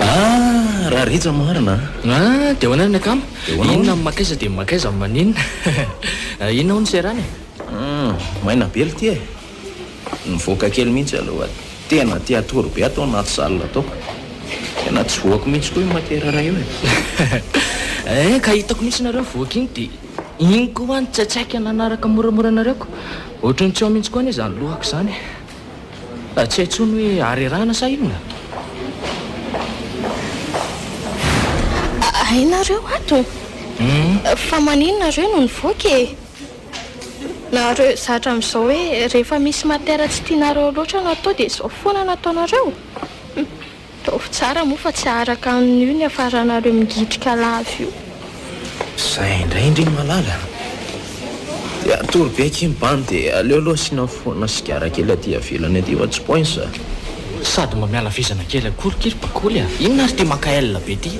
Ah, raha rija marina an! Ah, dia ahoana ny akama? Dia ahoana hono? Inona ny makaiza dia ny makaiza maninona? Inona hono serana e? Hum, maina be lty e! Nivoaka kely mihitsy aloha tena te hatory be ato anaty salle ato ka. Tena tsy voako mihitsy koa io matière iray io e. Ee ka hitako mihitsy nareo mivoaka iny dia iny koa hoa ny tsaitsaika nanaraka moramora anareo ko. Ohatry ny tsy ao mihitsy koa anie izany lohako izany e. Fa tsy hay intsony hoe harerahana sa inona? Hay nareo ato? Fa maninona nareo no nivoaka e? Nareo zatra amizao hoe rehefa misy matière tsy tianareo loatra no atao dia izao foana no ataonareo? Hum, ataovy tsara moa fa tsy aharaka amin'io ny hiafaranareo mingitrika lava io. Zay indray ndry malala a! Dia hatory be akia ny bandy e! Aleo aloha asiana foana sigara kely aty ivelany aty fa tsy points a! Sady mba miala vizana kely akory ky ry bakoly a! Inona ary ity maka aile be ity?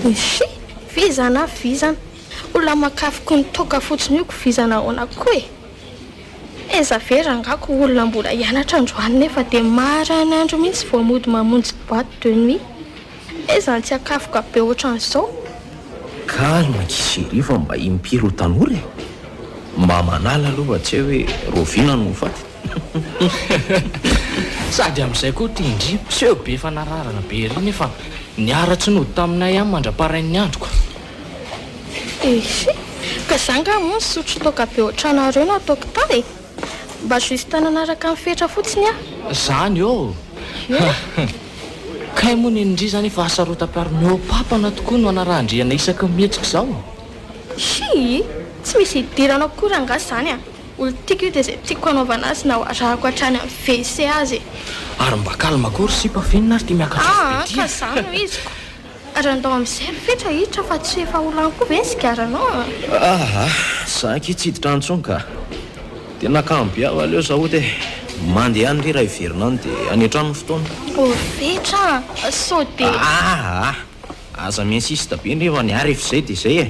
Echii! Vizana vizana! Ho lamakafy ko ny toaka fotsiny io ko vizana ahoana ko e! Aiza ve rangah ko olona mbola hianatra androany nefa dia maran'andro mihitsy vao mody mamonjy boite de nuit? Aiza ny tsiakafoka be ohatran'izao? Calme akia chérie fa mba impiry ho tanora e! Mba manala aloha fa tsy hay hoe raoviana no ho faty. Sady amin'izay koa ity ndry miseho be fanararana be ery nefa niharatsy nody taminay ihany mandra-parain'ny andro ka! Ehe, ka za nga moa nisotro toaka be otranareo no ataoko tany e! Mba juste nanaraka ny fetra fotsiny aho. Zany ô! He! Kay moa nenindry zany efa hasarotam-piaro mihoa-papana tokoa no anarahan-driana isaky ny mihetsika izao? Hii! Tsy misy hidirana ao koa rangah zany a! Olo tiako io dia izay tiako hanaovana azy na ho arahako hatrany amin'ny WC aza e! Ary mba calme koa ry sipa, f'inona ary ity miaka-tsofy be ity a! Aa ka zany no iziko! Ary andao amin'izay ry Fetra hiditra fa tsy efa ho lany koa ve ny sigaranao an! Ah ah! Za akia tsy hiditra any intsony ka! Dia nakany be aho aleo za ody e! Mandeha any re raha hiverina any dia any an-trano ny fotoana. Oh ry Fetra a! Sao dia. Ah ah! Aza mi-insiste be ndry efa ny ahy rehefa izay dia izay e!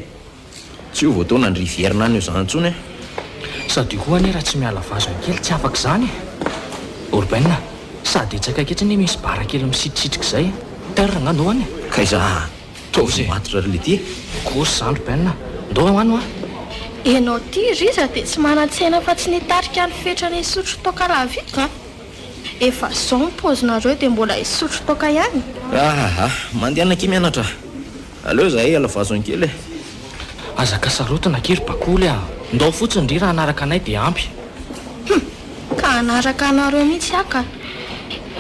Tsy ho voataona ny rivière-na any Ozan intsony an! Sady io koa anie raha tsy miala vazony kely tsy afaka izany e! Urbain a! Sady etsy akaiky etsy anie misy bar kely misitrisitrika izay e! Terre nga no any e! K'aiza a! Ataovy ny matotra ry Lety e! Kosa izany Urbain a! Ndao ho any hoa! Ianao ity Riza dia tsy manan-tsaina afa-tsy ny hitarika ny fetrany hisotro toaka rahavitro an! Efa izao ny paozinareo dia mbola hisotro toaka ihany? Ahahah! Mandehana akia mianatra a! Aleo izahay hiala vazony kely e! Aza kasarotina kely bakoly a! Ndao fotsiny ndry raha hanaraka anay dia ampy! Hum! Ka hanaraka anareo mihitsy aho ka!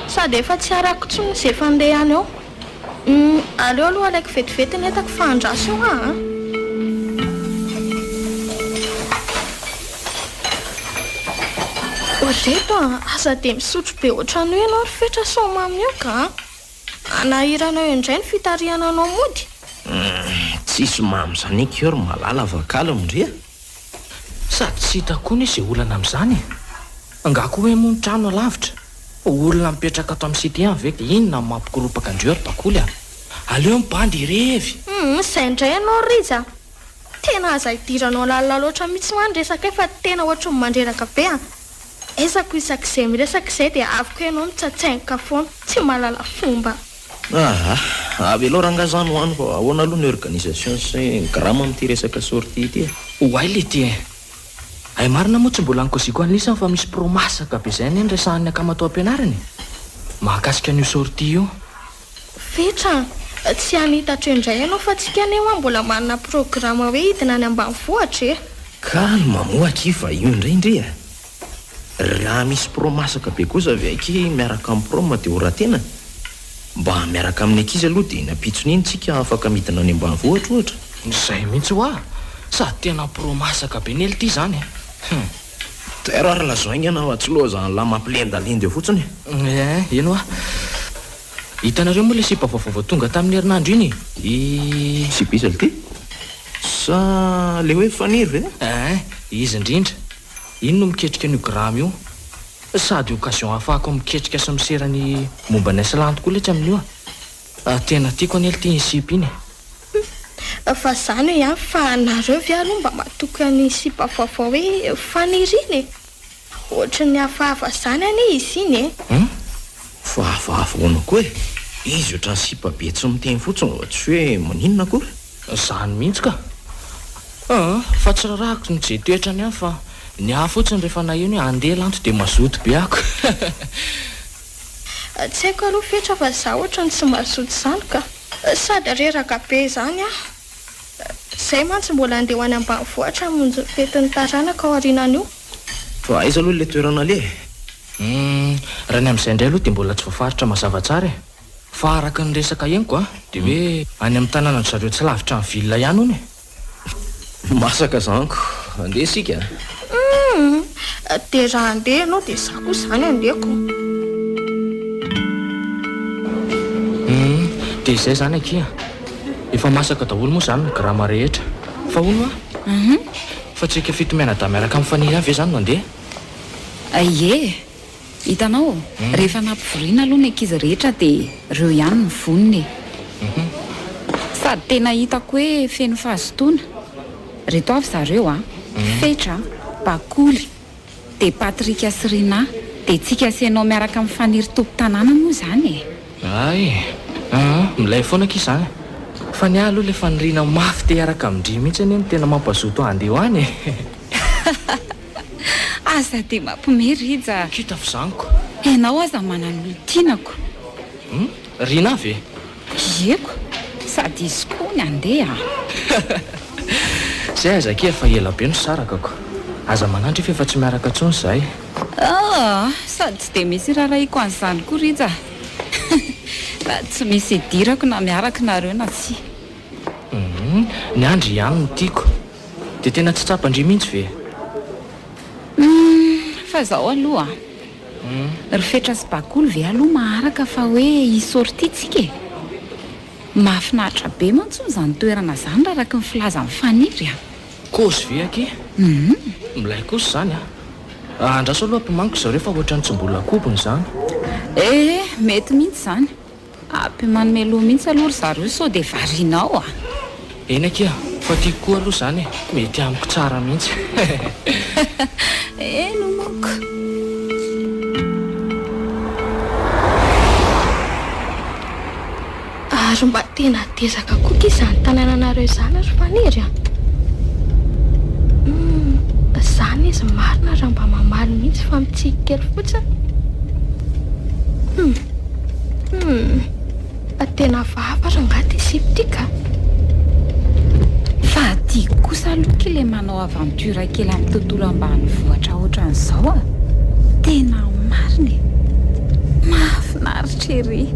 Sady efa tsy arako intsony izy efa ndeha any eo! Hum! Aleo aloha alaiko vetivety ny entako fa andraso eo aho a! Ory reto a! Aza dia misotro be ohatran'io ianao ry Fetra sao mamy eo ka a! Hanahirana eo indray ny fitarihana anao mody? Tsisy mamy zany akia ry malala fa kalo ndry a! Sady tsy hitako koa anie izay olana amin'izany e! Angaha koa hoe moa ny trano alavitra? Olona mipetraka ato amin'ny cité any ve dia inona no mampikoropaka andreo ry bakoly a! Aleo mibandy irevy! Hum, izay indray ianao Rija a! Tena aza idiranao lalina loatra mihitsy moa ny resakay fa tena ohatry ny mandreraka be an! Ezako isak'izay miresaka izay dia avy ko ianao no tsatsaingoka foana, tsy mahalala fomba. Ahh avelao rangahy zany ho any fa ahoana aloha ny organisation sy ny grama amin'ity resaka sortie ity e? Oay lety e! Hay marina moa tsy mbola nikoziko an'i Lisa fa misy pro masaka be izay anie ny resahan'ny akamatoam-pianarana e! Mahakasika an'io sortie io. Fetra an! Tsy hanita atreo indray ianao fa tsika anie hoa mbola manana programa hoe hidina any ambanivohitra e! Calme moa akia fa io indray ndry e! Raha misy pro masaka be kosa ve akia miaraka amin'ny prom dia ho ratena? Mba miaraka amin'ny ankizy aloha dia eny ampitsony eny tsika afaka midina any ambanivohitra ohatra? Izay mihitsy hoa! Sady tena pro masaka be nely ity izany e! Hum! Tera ary lazao enga anao atsy loha zany lahy mampilendalendy eo fotsiny e. Eh, eny hoa. Hitanareo moa ilay sipa vaovao vao tonga tamin'ny herinandro iny? I. Sipa iza ilty? Sa ilay hoe Faniry ve? Eh, izy indrindra. Iny no miketrika an'io Graham io. Sady occasion ahafahako miketrika sy misera ny momba an'i Iceland koa letsy amin'io a. Ah tena tiako anie lty iny sipa iny e. Humm fa za no hiafy fa nareo ve aloha mba matoky an'iny sipa vaovao hoe Faniry iny e? Ohatry ny hafahafa zany anie izy iny e. Humm fa hafahafa ahoana koa e? Izy ohatran'ny sipa be tsy miteny fotsiny fa tsy hoe maninona akory. Zany mihitsy ka. Aa fa tsy rarahiko ny je toetrany ihany fa ny ahy fotsiny rehefa naheno hoe andeha lanto dia mazoto be ako. Tsy haiko aloha fetra fa za ohatrany tsy mazoto izany ka. Sady reraka be izany aho. Izay mantsy mbola andeha ho any ambanivohitra hamonjy ny fetin'ny taranako aorianan'io. Fa aiza aloha ilay toerana aleha e? Humm, raha ny amin'izay indray aloha dia mbola tsy voafaritra mazava tsara e. Fa araka ny resaka henoko dia hoe any amin'ny tanànan-dry zareo tsy lavitra ny ville ihany hono e. Masaka zanko, andeha isika a! Dia raha andeha ianao dia izaho koa izany andehako. Dia izay izany akia, efa masaka daholo moa izany ny grama rehetra. Fa hono a! Fa tsy antsika fito mianadahy miaraka amin'i Faniry ihany ve izany no handeha? Ie. Hitanao, rehefa nampivoriana aloha ny ankizy rehetra dia ireo ihany no vonona e. Sady tena hitako hoe feno fahazotoana. Reto avy zareo a, Fetra, Bakoly, dia Patrick sy Rinah. Dia tsiky asenao miaraka amin'ny Faniry tompon-tanàna moa izany e. Hay e. Aa, milay foana akia izany. Fa ny ahy aloha ilay faniriana mafy te hiaraka amin-dry mihitsy anie no tena mampazoto ahy handeha ho any e. Aza dia mampme Rija a! Kita fa zany ko! Enao aza manan olon-tiana ko! Hum? Rina ve? Ie ko! Sady izy koa ny andeha a! Zay aza akia efa ela be no saraka ko! Aza manaitra fa efa tsy miaraka intsony izahay! Aa! Sady tsy dia misy irarahiako an'izany koa Rija a! Raha tsy misy idirako na miaraka nareo na tsia! Hum! Ny andry ihany no tiako! Dia tena tsy tsapan-dry mihitsy ve? Humm fa zao aloha a! Ry fetra sy bakoly ve aloha maharaka fa hoe hi sortie tsika e? Mahafinaritra be mantsy hono zany toerana zany raha araky ny filazan'i Faniry a! Kozy ve aky? Humm. Milay kosa zany a! Andraso aloha apimaniko zareo fa ohatrany tsy mbola kobony zany. Ee mety mihitsy zany. Aby manome loha mihitsy aloha ry zareo sao dia varianao a! Eny akia, fa tiako koa aloha izany e! Mety amiko tsara mihitsy Heheheh Eny manko. Ary mba tena Dezaka koa ty zany tanananareo zany ry Faniry a! Humm zany izy marina raha mba mamaly mihitsy fa mitsiky kely fotsiny. Humm humm fa tena hafahafa rangahy ty sipa ty ka! Fa aty kosa aloha ky le manao aventure kely amin'ny tontolo ambanivohitra otran'izao a! Tena marina e! Mahafinaritra. lavitra ery.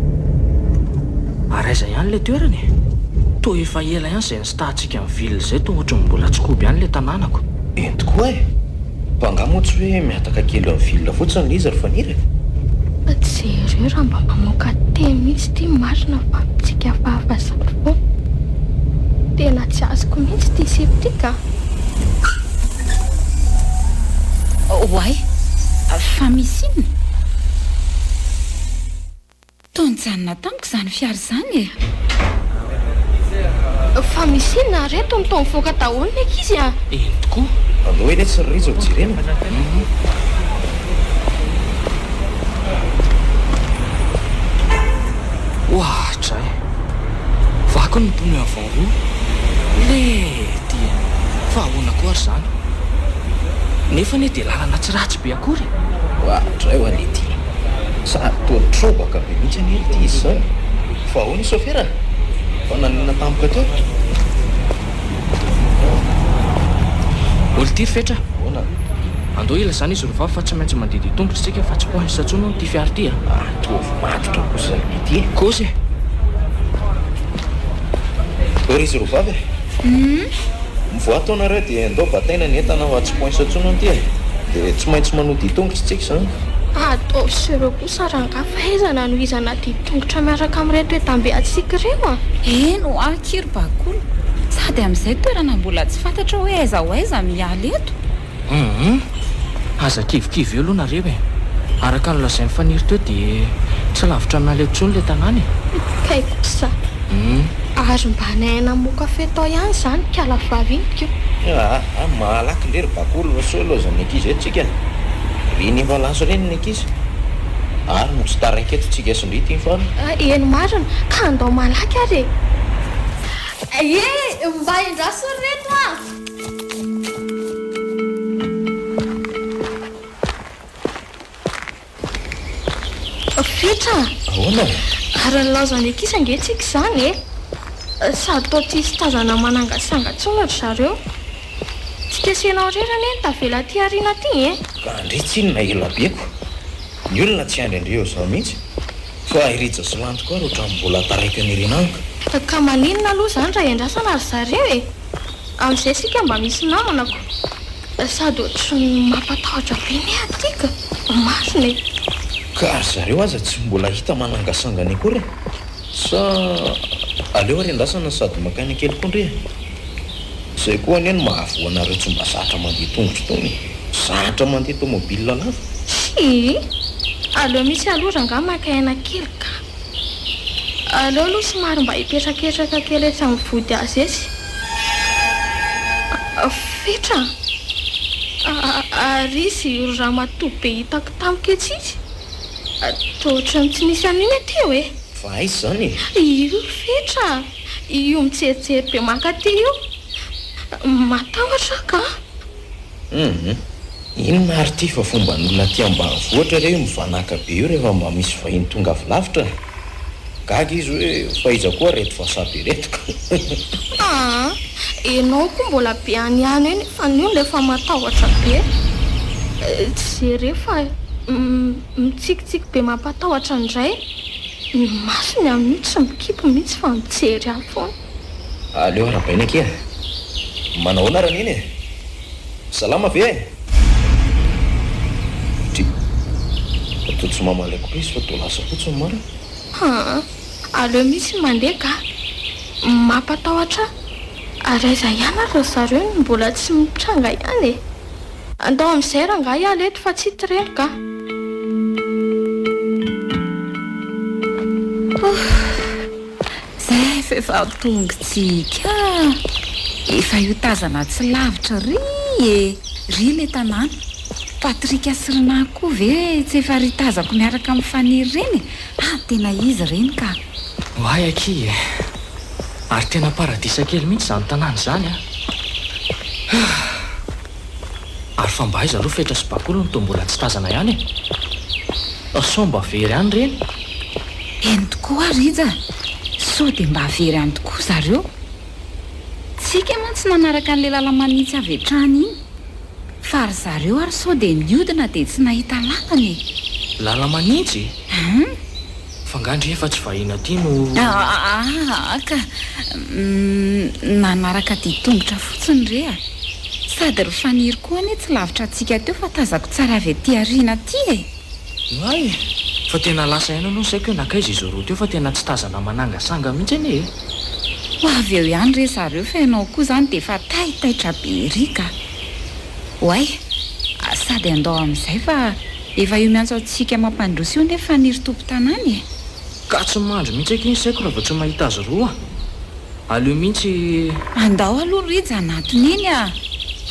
Ary aiza ihany ilay toerana e? Toa efa ela ihany izay nistahantsika ny ville izay toa ohatry ny mbola Tsikoby ihany ilay tanànako. Eny tokoa e! Fa angaha moa tsy hoe mihataka kely amin'ny ville fotsiny ilay izy ry Faniry e? Fa jereo raha mba mamoaka teny mihitsy ity marina fa amintsika fahafahasampy foana. Tena tsy azoko mihitsy ity sipa ity ka! Oay! Fa misy inona? Toa nijanona tamiko izany fiara izany e! Fa misy inona ary eto? Toa mivoaka daholo ny ankizy a! Eny tokoa. Allo anie tsy ry Rija jerena. Oahatra eh! Vaky ny pneu avant. Io? Le dia fa ahoana koa ary izany? Nefa anie dia lalana tsy ratsy be akory e! Oa, dray oa le dia. Sady toa trobaka be mihitsy anie ity izy izao e! Fa ahoana i sôfera? Fa nanonona tampoka teo? Olitiry fetra, ahoana? Andao ilazana izy roa vavy fa tsy maintsy mandeha dia tongotra isika fa tsy ho any Satsony hono ity fiara ity a! Mitovy matotra kosa ity e! Kosa e! Hoe ry zarovavy e! Mivoaha tao nareo dia andao bataina ny entana fa tsy poinsa tsony anty e! Dia tsy maintsy manoa ditongotra tsika izany. Ataovy ireo kosa rangahy fa aiza ny hanohizana ditongotra miaraka amin'ireto entambe antsika ireo a! Eny hoa akia ry Bakoly, sady amin'izay toerana mbola tsy fantatra hoe aiza ho aiza miala eto. Humm. Aza kivikivy eo aloha nareo e. Araka ny lazain'i Faniry teo dia tsy lavitra an'ala eo tsony ilay tanàna e. Kay kosa. Humm. Ary mba ny aina moa kafe tao ihany izany ikala vavy iny ko. Aa malaky ndry ry bakolo fa sao loza ny ankizy eto tsika ry ny mba lasa ireny ny ankizy ary no tsy taraiky eto tsika sy ndry tim fano. Eny marina ka andao malaky ary e. Ee mba endraso ry reto a. Fiotra! Ahoana? Ary nilaozan'ny ankizy ange tsika izany e! Eh? Sady toa tsy hisy tazana manangasanga intsony ry zareo. Tsy kesena ho rera anie ny tavela aty aoriana aty e! Raha ndry tsinona ela be ko! Ny olona tsy handry an'ireo izao mihitsy fa i Rija sy Lanto koa ary ohatran'ny mbola taraiky an'i Rinaniko. Ka maninona aloha izany raha iandrasana ry zareo e? Amin'izay isika mba misy namana ko. Sady ohatran'ny mampatahotra be ny aty ka. Marina e. Ka ry zareo aza tsy mbola hita manangasangana akory e. Sa aleo ary andrasana sady maka aina kely koa ndry e. Izay koa anie no mahavoa anareo tsy mba zatra mandeha tongotra itony e. Zatra mandeha tomobile lava. Tsia. Aleo mihitsy aloha rangahy maka aina kely ka. Aleo aloha somary mba hipetraketraka kely etsy amin'ny vody azy etsy. Fetra a! Ary izy io ramatoa be hitako tampoka etsy izy. Toa ohatran'ny tsy nisy an'iny aty eo e! Fa aiza izany e? Io Fetra a! Io mijerijery be mankaty io. Matahotra aho kah! Humm inona ary ity fa fomban'olona aty ambanivohitra re io mivanaka be io rehefa mba misy vahiny tonga avy lavitra a! Gaga izy hoe fa iza koa reto vasabe reto ka! Aa enao koa mbola be any ihany eny fa ny olona efa matahotra be e! Tsy jereo fa mitsikitsiky be mampatahotra indray ny masony amin'io tsy mikipy mihitsy fa mijery any foana. Aleo arabaina akia e! Manao ahoana ary an'iny e! Salama ve e! Dry! Fa toa tsy mamaly akory izy fa toa lasa fotsiny marina. Haa! Aleo mihitsy mandeha ga! Mampatahotra ahy ary aiza ihany ary ry zareo no mbola tsy mitranga ihany e! Andao amin'izay rangahy hiala eto fa tsy tireno ga! Ohh! Zay vehivavy tongo tsiky a! Efa io tazana tsy lavitra ry e! Ry le tanàna! Patrick sy Rinah koa ve tsy efa ry tazako miaraka amin'i Faniry ireny e! Ah tena izy ireny ka! Oay akia e! Ary tena paradisa kely mihitsy izany tanàna izany a! Hah! Ary fa mba aiza aloha fetra sy bakoly no toa mbola tsy tazana ihany e! Sao mba very any ireny? Eny tokoa Rija, sao dia mba very any tokoa zareo. Tsika moa tsy nanaraka an'ilay lala-manitsy avy hatrany iny, fa ry zareo ary sao dia niodina dia tsy nahita lalana e! Lala-manitsy? Hum! F'angandry efa tsy vahiny aty no. Ahaa ka! Nanaraka dian-tongotra fotsiny re a! Sady ry Faniry koa anie tsy lavitra antsika teo fa tazako tsara avy aty aoriana aty e! Oay e! Fa tena lasa ihany aloha ny saiko hoe nankaiza i Zorro teo fa tena tsy tazana manangasanga mihitsy anie e! Ho avy eo ihany re zareo fa ianao koa izany dia efa taitaitra be ery ka! Oay! Sady handao amin'izay fa efa io miantso antsika mampandroso io anefa ny ry tompon-tanàna e! Ka tsy mandry mihitsy akia ny saiko raha vao tsy mahita azy roa! Aleo mihitsy. Andao aloha ry Rija anatiny eny a!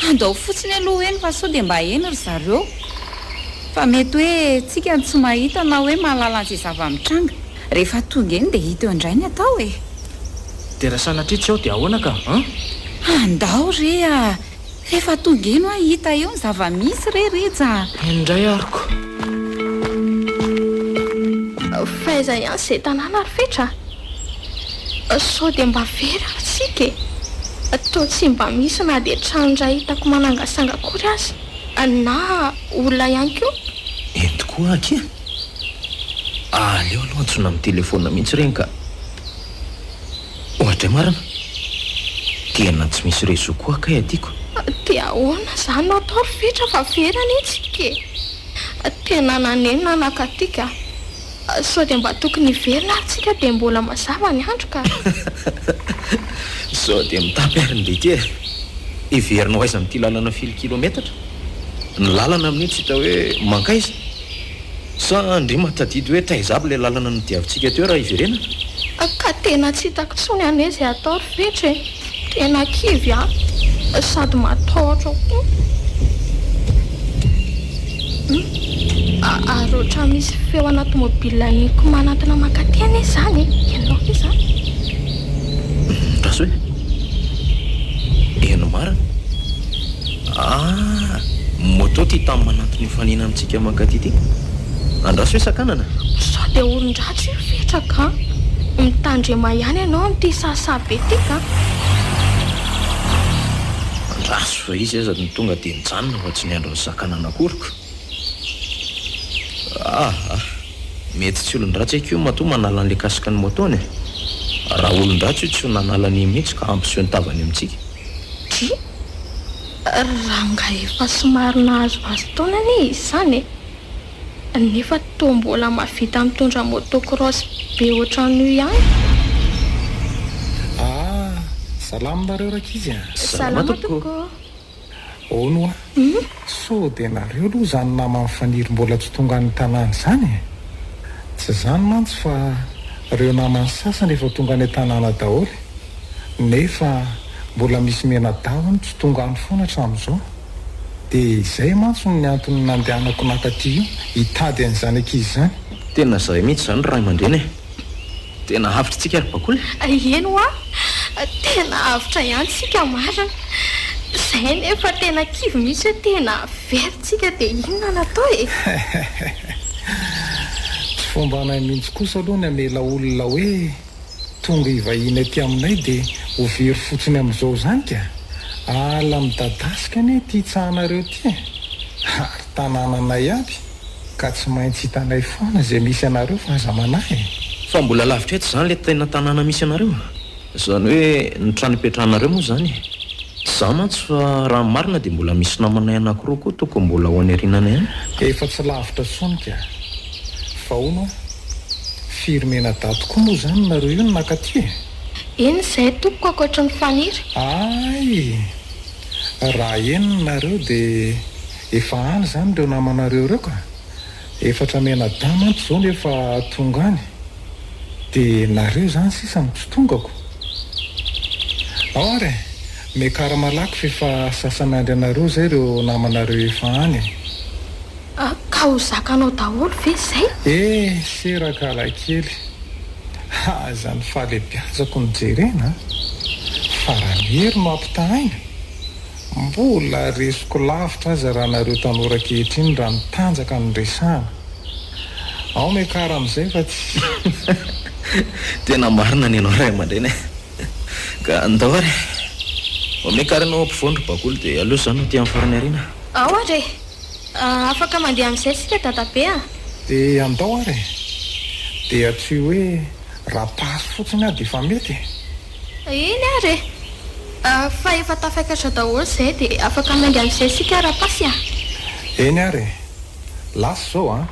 Andao fotsiny aloha eny fa sao dia mba eny ry zareo! Fa mety hoe tsika no tsy mahita na hoe mahalala an'izay zava-mitranga. Rehefa tonga eny dia hita eo indray ny atao e! Dia raha sanatria tsy ao dia ahoana ka an? Andao re a! Rehefa tonga eny hoa hita eo ny zava-misy re Rija a! Eny indray ary ko! Fa aiza ihany izay tanàna ry Fetra a? Sao dia mba very ary tsika e! Toa tsy mba misy na dia trano iray hitako manangasanga akory aza. Anà olona ihany koa? Ento koa akia. Aleo aloha antsoina amin'ny telefaonina mihitsy ireny ka. Ohatray marina. Tena tsy misy réseau koa kay aty ko. Dia ahoana izany no atao ry Fetra fa very anie tsika e. Tena naneno nanakatiaka. Sao dia mba tokony hiverina ary tsika dia mbola mazava ny andro ka! Sao dia mitapy ary ny lety e! Hiverina ho aiza amin'ity lalana firy kilometatra? Ny lalana amin'io tsy hita hoe mankaiza? Sa andriamany tadidy hoe taiza aby ilay lalana nodiavintsika teo raha hiverenana? Ka tena tsy hitako intsony anie izay hatao ry Fetro e! Tena kivy aho sady matahotra koa hum ary ohatran'ny misy feo ana tomobilina eniko manantona mankaty any izany e ianao ve izany Rasoa e Eny marina Ah moto ity tany manantona io fanena amintsika mankaty ity Andraso hoe sakanana? Sao dia olon-dratsy io? Ketraka an! Mitandrema ihany ianao amin'ity sahasaha be ity ka! Andraso fa izy aza no tonga dia nijanona fa tsy niandry ny saka nanakoriko. Aa! Mety tsy olon-dratsy akia io matoa manala an'ilay kasiky ny moto-ny e! Raha olon-dratsy io tsy ho nanala an'iny mihitsy ka hampiseho ny tavany amintsika. Dia rangahy efa somary nahazohazo taona anie izy izany e! nefa toa mbola mahavita mitondra moto cross be otran'io ihany. Ah! Salama nareo rankizy a! Salama tompoko! Hono hoa? Sao dia nareo aloha izany naman'i Faniry mbola tsy tonga any tanàna izany e? Tsy izany mantsy fa ireo namany sasany efa tonga any an-tanàna daholo e! nefa mbola misy mianadahy tsy tonga any foana hatramin'izao, dia izay mantsy no antony nandehanako naka aty io hitady an'izany ankizy izany. Tena zay mihitsy izany ry Raimandreny e! Tena avotra tsika ry Bakoly e! Eny hoa, tena avotra ihany tsika marina, zay anie efa tena kivy mihitsy hoe tena very tsika dia inona no atao e! Tsy fombanay mihitsy kosa aloha ny hamela olona hoe. Tonga hivahiny aty aminay dia ho very fotsiny amin'izao izany ka! Ala midadasika anie ity tsahanareo ity e! Ary tanànanay aby ka tsy maintsy hitanay foana izay misy anareo fa aza manahy e! Fa mbola lavitra etsy izany ilay tena tanàna misy anareo? Izany hoe ny trano ipetrahanareo moa izany e! Izaho mantsy fa raha ny marina dia mbola misy namanay anankiroa koa tokony mbola ho any aoriana any ihany. Efa tsy lavitra intsony ka! Vao no. Firy menadaty koa moa izany nareo io no naka aty e? Eny izay tompoko ankoatry ny faniry. Ay! Raha enina nareo dia efa any izany ireo namanareo ireo ka! Efatra menadahy mantsy izao no efa tonga any. Dia nareo izany sisa no tsy tongako. Ao ary e! Miakarama lako f'efa sasany andry anareo izay ireo namanareo efa any e! Ka ho zakanao daholo ve izay? Eh seraka lahy kely a! Aza ny fahalebiazako no jerena a! Fa raha ny hery no ampitahaina, mbola resiko lavitra aza raha nareo tanora ankehitriny raha mitanjaka no resahana. Ao Mekara amin'izay fa tsy. Tena marina ny anao ray aman-dreny a! Ka ndao ary e! Vao Mekara ianao ampovoany ry Bakoly dia aleo izaho no aty amin'ny farany aoriana. Ao ary e! Afaka mandeha amin'izay isika dadabe a! Dia andao ary e! Dia tsy hoe raha passe fotsiny aho dia efa mety e! Eny ary e! Fa efa tafakatra daholo izay dia afaka mandeha amin'izay isika raha passe a! Eny ary e! Lasa izao a!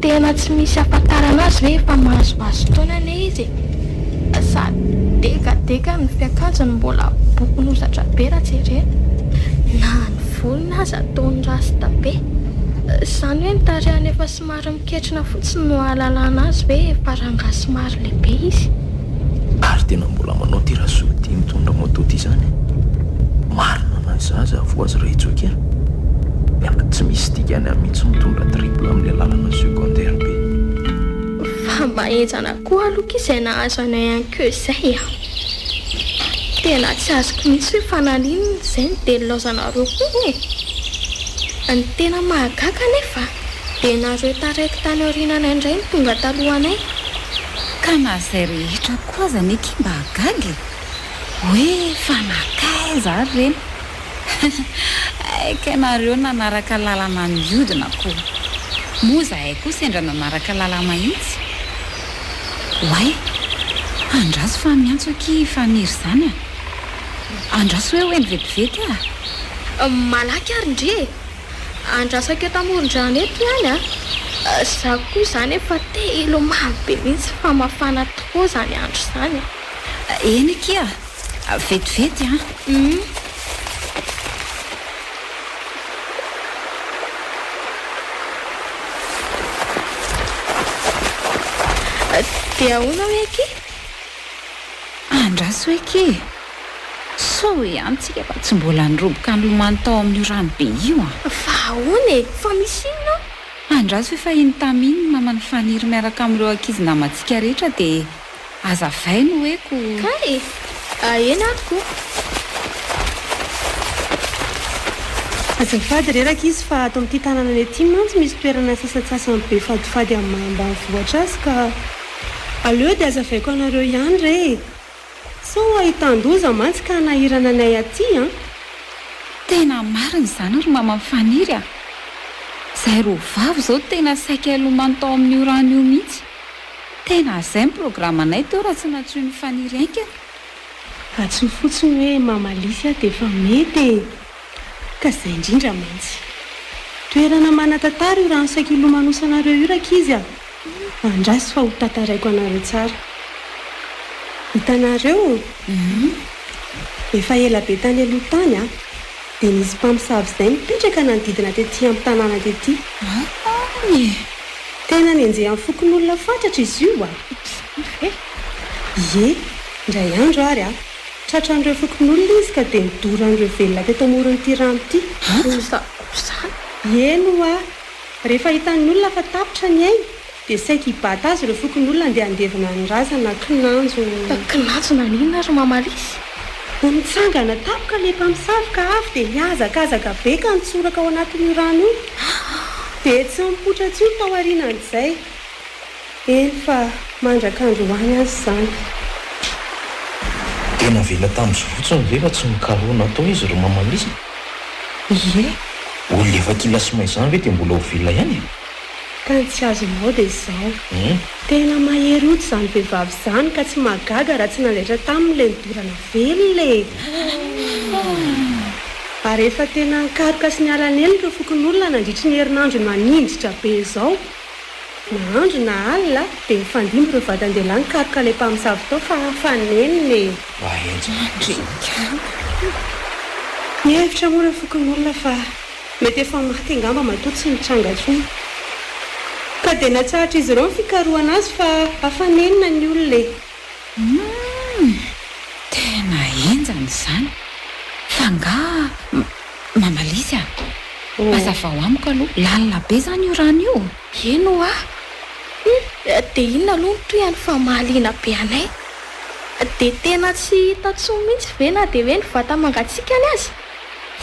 Tena tsy misy ampakarana azy ve efa mahazoazo taona anie izy e! Sa dekadeka ny fiakanjony mbola bokon'hozatra be raha jerena? Na ny volony aza ataony rasta be! Zany hoe ny tarehiny efa somary miketrina fotsiny no ahalalana azy hoe efa rangahy somary lehibe izy. Ary tena mbola manao ity razoky tia mitondra moto ity zany e. Marina na zaza avoa azy ray joky a. Miala tsy misy dikany ahy mihitsy mitondra triple amle lalana secondaire be. Fa mba enjana koa aloha ky zay nahazo anay any ko zay a. Tena tsy azoko mihitsy hoe fa naninona zay no dia nilaozanareo hono e. Ny tena mahagaga anefa dia nareo taraiky tany aoriananay ndray no tonga talohanay Ka na izay rehetra koa aza anie ki mba hagaga e! Hoe fa nankaiza ary ireny? Aika ianareo nanaraka lalana niodina koa! Moa izahay koa sendra nanaraka lala mahitsy? Oay! Andraso fa miantso akia i Faniry izany a! Andraso hoe ho eny vetivety a! Malaky ary ndry e! Andrasako eto amoron-drano eto ihany a! Za koa izany efa te hilomano be mihitsy fa mafana trop izany andro izany e! Eny akia! Vetivety an! Hum. Dia ahoana hoe akia? Andraso hoe ke! Sao ihany tsika mba tsy mbola niroboka nilomano tao amin'io rano be io an! Fa ahoana e! Fa misy inona ao? Andraso hoe fa iny tamin ny maman'i Faniry miaraka amin'ireo ankizy namantsika rehetra dia hazavay no hoe ko! Kay e! Ahena ato ko! Azafady re rankizy fa ato amin'ity tanananay ity mantsy misy toerana sasantsasany be fadifady amin'ny maha ambanivohitra azy ka. Aleo dia azavaiko anareo ihany re e! Sao ahitan-doza mantsy ka hanahirana anay aty an! Tena marina izany ry maman Faniry a! Zay roa vavy zao tena saika hilomano tao amin'io rano io mihitsy. Tena zay ny programme anay teo raha tsy nantsoin'i Faniry haingana. Antsoy fotsiny hoe Mama Lisy aho dia efa mety e! Ka izay indrindra mantsy. Toerana manan-tantara io rano saika hilomanosanareo io rankizy a! Andraso fa ho tantaraiko anareo tsara. Hitanareo o? Hihi. Efa ela be tany aloha tany a! Dia nisy mpamosavy izay nipetraka nanodidina tety amin'ny tanàna tety. Hay e! Tena nenjehan'ny fokonolona fatratra izy io a! Ops! Ouf e! Ie, indray andro ary a! Tratran'ireo fokonolona izy ka dia nodoran'ireo velona teto amoron'ity rano ity. Asa akory izany? Eny ho'a! Rehefa hitan'ny olona fa tapitra ny ainy dia saiky hibata azy ireo fokonolona handeha handevina ny razana, kinanjo. Ka kinanjo naninona ry Mama Lisy? Ho mitsangana tampoka ilay mpamosavy ka avy dia hihazakazaka be ka nitsoraka ao anatin'io rano io. Dia tsy nipoitra intsony tao aorianan'izay. Efa mandrak'androany aza izany. Dia navela tamin'izy fotsiny ve fa tsy nikarohina tao izy ry Maman Lisa? Ie. Olona efa kila sy may izany ve dia mbola ho velona ihany e? Ka ny tsy azonao dia izao. Hum. Tena mahery hoditra izany vehivavy izany ka tsy mahagaga raha tsy nandaitra taminy ilay nidorana velona e! Hum. Ary efa tena nikaroka sy niara-nely ireo fokonolona nandritry ny herinandro naninjitra be izao. Na andro na alina dia nifandimby ireo vatandehilahy nikaroka ilay mpamosavy tao fa fa nenina e! Mahenja mandry ny kama. Nihevitra moa ireo fokonolona fa mety efa maty angamba matoa tsy mitranga intsony. Ka dia natsahatra izy ireo ny fikarohana azy fa fa nenina ny olona e! Humm! Tena enjana izany! F'angaha mamaly izy an! Hazavao amiko aloha, lalina be izany io rano io? Eny hoa! Humm! Dia inona aloha no tohiny fa mahaliana be anay? Dia tena tsy hita tsony mihitsy ve na dia hoe ny vata mangatsikany aza?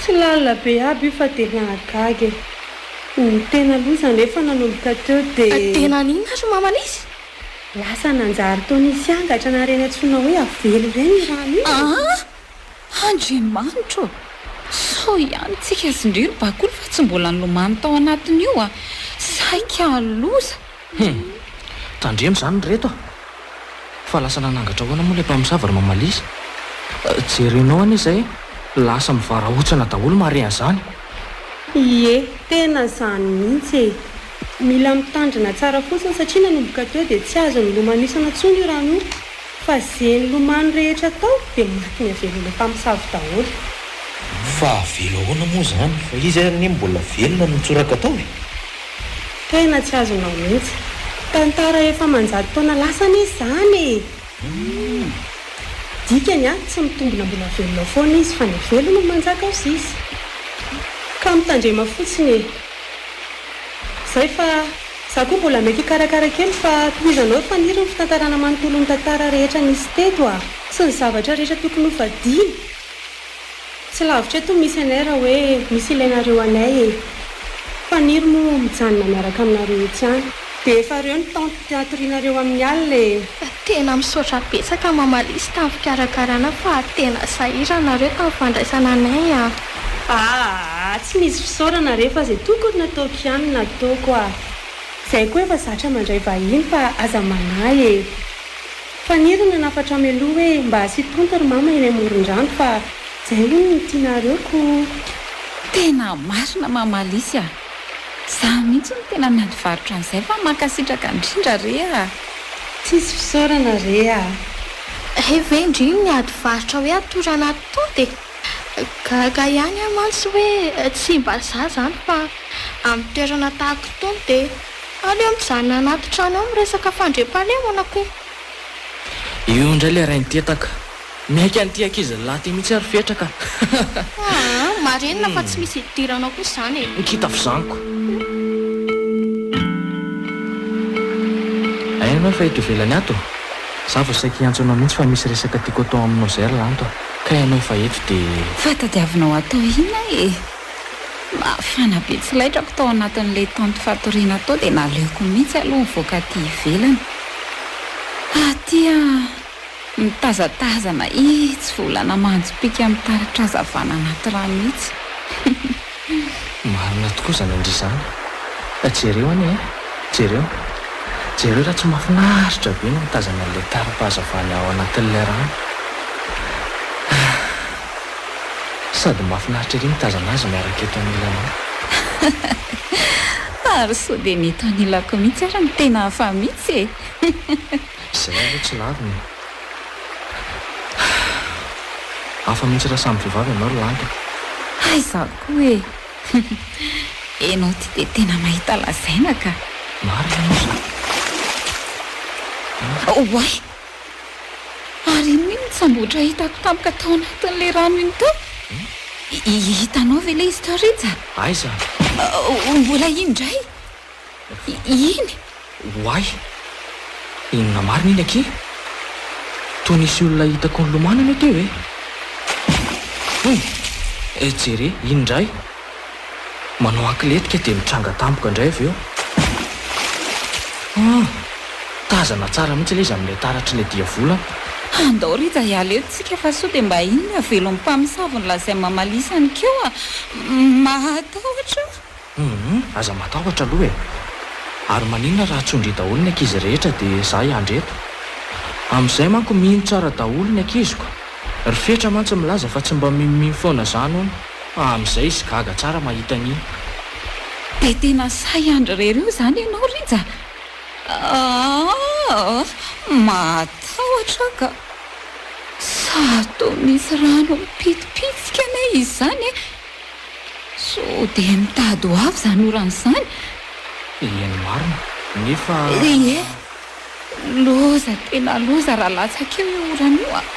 Tsy lalina be aby io fa dia nahagaga e! Ny tena loza anefa nanomboka teo dia. Dia naninona ary mamaly izy? Lasa nanjary toa nisy angatra na ireny antsoina hoe avelo ireny io rano io e! Ah! Andriamanitra ô! Sao ihany tsika sy ndry ry Bakoly fa tsy mbola nilomano tao anatin'io a! Saika loza! Hum! Tandremo izany ry reto a! Fa lasa nanangatra ahoana moa ilay mpamosavy ry Mamalisa? Jerenao anie izay lasa mivarahontsana daholo marehan'izany! Ie, tena izany mihitsy e! Mila mitandrina tsara fotsiny satria nanomboka teo dia tsy azo nilomanosana tsony io rano io fa ze nilomano rehetra tao dia maty niavelona mpamosavy daholo. Fa avela ahoana moa izany fa izy anie mbola velona no mitsoraka tao e! Tena tsy azonao mihitsy. Tantara efa aman-jato taona lasa anie izany e! Dikany a, tsy mitombina mbola velona foana izy fa ny velona no manjaka ao sisa. Ka mitandrema fotsiny e! Zay fa za koa mbola mety hikarakara kely fa tohizanao ry Faniry ny fitantarana manontolo ny tantara rehetra nisy teto a! Sy ny zavatra rehetra tokony ho fadiana! Tsy lavitra eto misy anay raha hoe misy ilainareo anay e! Faniry moa mijanona miaraka aminareo etsy ihany. Dia efa reo ny tente tiatorianareo amin'ny alina e! Tena misaotra betsaka Mamalia sy tamin'ny fikarakarana fa tena sahirana reo tamin'ny fandraisana anay a! Aah tsy misy fisaorana re fa zay tokony nataoko ihany no nataoko a! Zay koa efa zatra mandray vahiny fa aza manahy e! Faniry ny hanafatra mialoha hoe mba asio tente ry mama eny amoron-drano fa zay hono no tianareo ko! Tena marina Mamalia a! Za mihitsy no tena miady varotra an'izay fa mankasitraka indrindra re ah. Tsisy fisaorana re ah. Hay ve ndry ny miady varotra hoe atoro anaty tody e! Gaga ihany aho mantsy hoe tsy mba za zany fa amin'ny toerana tahaka itony dia aleo mijanona anaty trano eo miresaka fandriampahalemana ko e! Io indray ilay rain-tetaka Miaiky an'ity ankizy lahy ity mihitsy ary fetra ka. Aa marenina fa tsy misy idiranao kosa izany e. Ny kitafo zaniko. Aia ianao efa eto ivelany ato? Za vao saika hiantso anao mihitsy fa misy resaka tiako atao aminao izay ry lanto a! Kay ianao efa eto dia. Fa tadiavinao atao ina e? Mafana be tsy laitrako tao anatin'ilay tente fatoriana tao dia naleoko mihitsy aloha nivoaka aty ivelany. Aty a! Mitazatazana ih tsy volana manjo pika mitaratra hazavana anaty rano mihitsy hihihihh. Marina tokoa izany an-dry zany a! Jereo anie e! Jereo! Jereo raha tsy mahafinaritra be ny mitazana an'ilay taram-pahazavana ao anatin'ilay rano ah! Sady mahafinaritra ery mitazana azy miaraka eto anilanao. Hihihihihh! Ary sao dia ny eto anilako mihitsy ary no tena hafa mihitsy e! Hihihihihh. Izay aloha tsy lavina e! Hafa mihitsy raha samy vehivavy ianao ry Lanto a! Hay izaho koa e! Ianao ity dia tena mahita lazaina ka! Marina moa izany an! Oay! Ary inona io mitsambotra hitako tampoka tao anatin'ilay rano iny tao? Hitanao ve ilay izy tao Rija? Aiza? Mbola iny indray! Iny? Oay! Inona marina iny akia? Toa nisy olona hitako nilomano anie teo e! Hoy! Eh, jere, iny indray! Manao ankiletika dia mitranga tampoka indray avy eo. Ah! Tazana tsara mihitsy ilay izy amin'ilay taratr'ilay diavolana. Andao Rija hiala eto tsika fa sao dia mba iny ny havelon'ny mpamosavy ny lazain'i Mamalisany keo a! Mahatahotra a! Humm aza matahotra aloha e! Ary maninona raha tsondry daholo ny ankizy rehetra dia za hiandry eto? Amin'izay manko mino tsara daholo ny ankiziko. Ry Fetra mantsy milaza fa tsy mba minomino foana zany hono. Amin'izay izy gaga tsara mahita an'iny. Dia tena sahy hiandry irery eo zany ianao Rija? Aahh matahotra aho ka! Sa toa misy rano mipitipitsika anie izy zany e? Sao dia mitady ho avy izany orana izany? Eny marina, nefa. Ry e! Loza, tena loza raha latsaka eo io orana io an!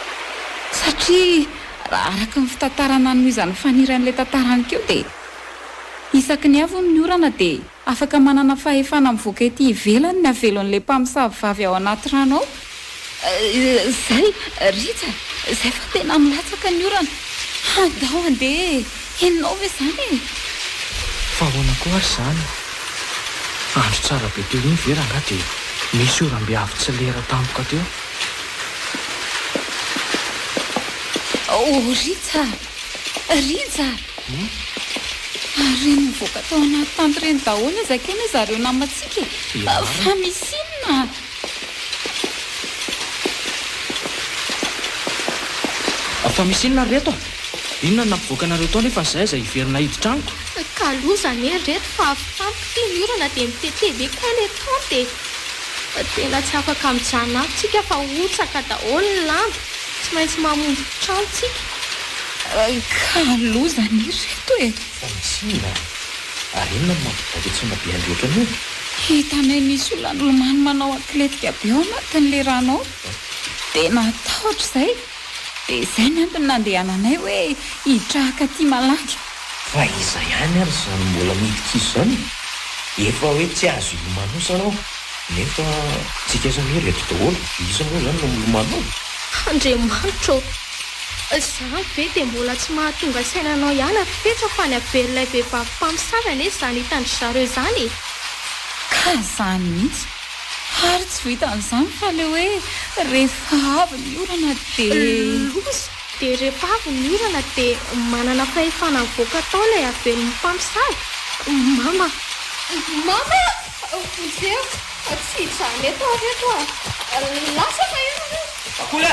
Satria raha araka ny fitantarana nohizan'ny faniran'ilay tantara nikeo dia isaky ny avy hono ny orana dia. Afaka manana fahefana mivoaka ety ivelany ny havelon'ilay mpamosavy vavy ao anaty rano ao. Izay, Rija, izay fa tena milatsaka ny orana. Handao handeha e! Henonao ve izany e? Fa ahoana koa ary izany? Andro tsara be teo iny ve rangahy dia nisy oram-be avy tsy lera tampoka teo? Oh, Rija! Rija! Ary nivoaka tao anaty tany ireny daholo aza akia ry zareo namantsika e! Fa misy inona? Fa misy inona ry reto a? Inona no nampivoaka anareo tao nefa izay aza hiverina hiditra amiko? Ka loza anie ry reto fa avy tamiko ity ny orana dia mitete be kay ilay tente e! Tena tsy afaka mijanona ato tsika fa hotsaka daholo ny lamba, tsy maintsy mamonjy trano tsika. Ka loza an i reto e! Fa misy inona? Ary inona no mampibaiko an-tsaina be an'i reto anio? Hitanay misy olona nilomano manao atletika be ao anatin'ilay rano ao. Dia natahotra izay. Dia izay mantsy no nandehananay hoe hitrahaka aty malaky. Fa iza ihany ary izany mbola midika izy izany? Efa hoe tsy azo hilomano izy anao, nefa tsika aza anie reto daholo. Iza moa izany no milomano ao? Andriamanitra ô! Zah ve dia mbola tsy mahatonga saina anao ihany ry Petra fa ny haberin'ilay vehivavy mpamosavy anie izany hitan-dry zareo izany e! Ka izany mihitsy! Ary tsy vitan'izany fa ilay hoe rehefa avy ny orana dia. Loza! Dia rehefa avy ny orana dia manana fahefana mivoaka tao ilay havelin'ny mpamosavy? Mama! Mama! Vonjeo! Tsy hijanona eto aho ry reto a! Lasa fa eo nareo! Akola!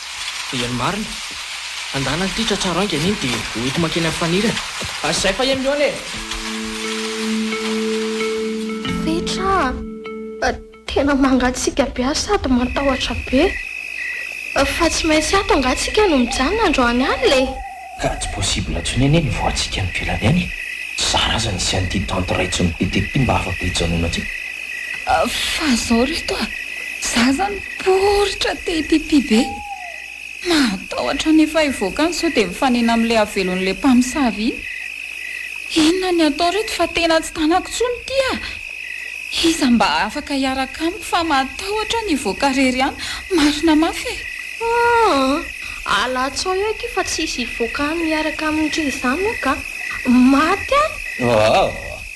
Dia ny marina. Andana ity tratraro haingana iny dia ho ety mankeny amin'ny fanirana. Ary izay fa eny mihaona e! Fetra a! Tena mangatsiaka be ary sady matahotra be. Fa tsy maintsy ato angaha tsika no mijanona androany alina e! Ka tsy possible tsony anie ny voantsika any velany any e! Tsy zara aza nisy an'ity tante raitsy nitete ty mba afaka hijanona ty. Fa zao ry reto a! Za zany poritra te hipipi be! Mahatahotra ny efa hivoaka any sao dia mifanena amin'ilay havelon'ilay mpamosavy iny! Inona ny atao ry reto fa tena tsy tanako tsony ity a! Iza mba afaka hiaraka amiko fa mahatahotra ny hivoaka rery any marina mafy e! Aa! Alatsao eo akia fa tsisy hivoaka any miaraka aminy re izany ok a! Maty aho! Aa!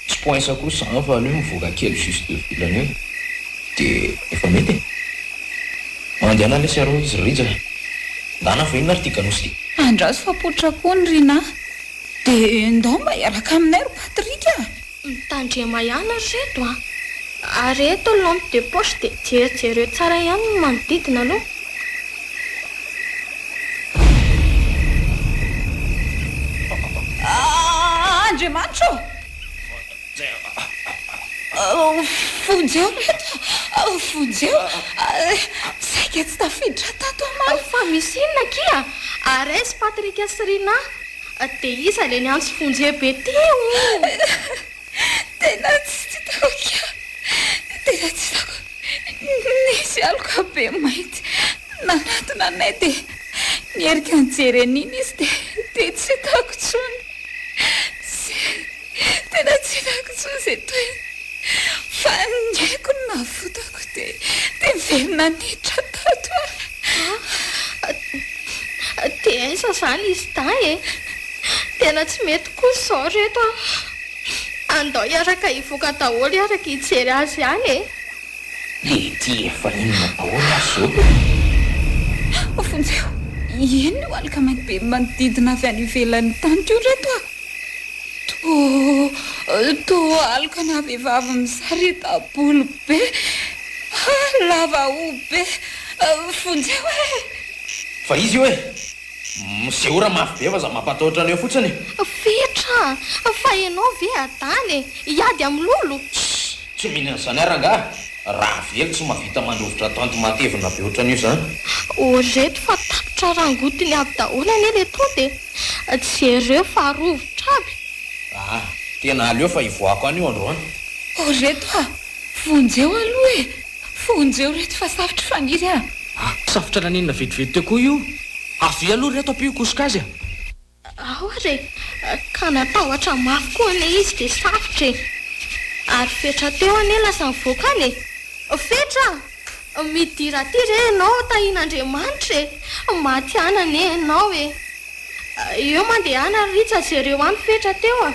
Tsy poinsa koa izany fa aleo mivoaka kely juste deux volana eo dia efa mety e! Mandehana lesy arô izy ry Rija! Ndana fa inona ary ty Ganosy ty? Andraso fa poitra koa ny Rinah! Dia ndao mba hiaraka aminay ry Patrick a! Mitandrema ihany ry reto a! Ary eto lampe de poche dia jerijereo tsara ihany ny manodidina aloha. Andriamanitra ô! Vonjeo ry reto a! Vonjeo! Saika tsy tafiditra tato omaly. Fa misy inona akia? Ares, Patrick sy Rinah. Dia iza ilay niantso Fonje be teo iny? Tena tsy tahotra, tena tsy tahotra. Nisy aloka be mainty nanatona anay dia nierika nijery an'iny izy dia tsy tahotra intsony. Tena tsy fako intsony izay toetra fa ny aiko no navotako dia niverina niditra tato aho. TS, Zany izy dahy e! Tena tsy mety kosa izao ry reto a! Andao hiaraka hivoaka daholo hiaraka hijery azy ihany e! Lety efa inona daholo aza izao e! Vonjeo, inona io aloka mainty be manodidina avy any ivelan'ny taniko io ry reto a! Toa alokana vehivavy misarita-bolo be, lava hoho be. Vonjeo e! Fa izy io e! Miseora mafy be fa za mampatahotra an'io fotsiny e! Fetra! Fa ianao ve adala e! Hiady amin'ny lolo? Shh! Tsy mino an'izany aho rangahy! Ravelo tsy mahavita mandrovitra tanty matevina be ohatran'io izany! Ô reto fa tapitra rangotiny avy daholo anie le tonta e! Jereo fa rovitra aby! Aa! Tena aleo fa hivoahako any io androany. Oh ry reto a! Vonjeo aloha e! Vonjeo reto fa safotra faniry a! Aa! Safotra naninona vetivety teo koa io? Avia aloha ry reto ampio hikosoka azy a! Ao ary e! Ka natahotra mafy koa anie izy dia safotra e! Ary fetra teo anie lasa nivoaka any e! Fetra! Midira aty re ianao tahin'Andriamanitra e! Matiana anie ianao e! Eo mandehana ry Rija jereo any fetra teo a!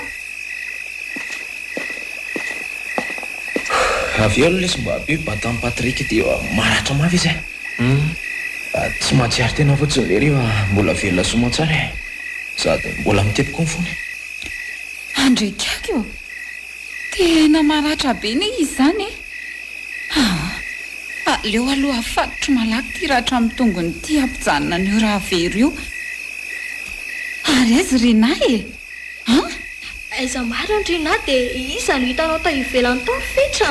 Avy eo ny lesy mba be batan'i Patrick dia maratra mafy izy e! Hum! Tsy mahatsiaro tena fotsiny ve rehefa mbola velona sy mantsana e! Sady mbola mitepy koa ny fony. Handrekiako! Tena maratra be ne izy izany e! Haa! aleo aloha afatotro malaky ity ratra amin'ny tongony ity hampijanona an'io rà very io. Ary aiza i Rinah e? An? Aiza marina Rinah dia iza no hitanao tao ivelany tao ry Fetra?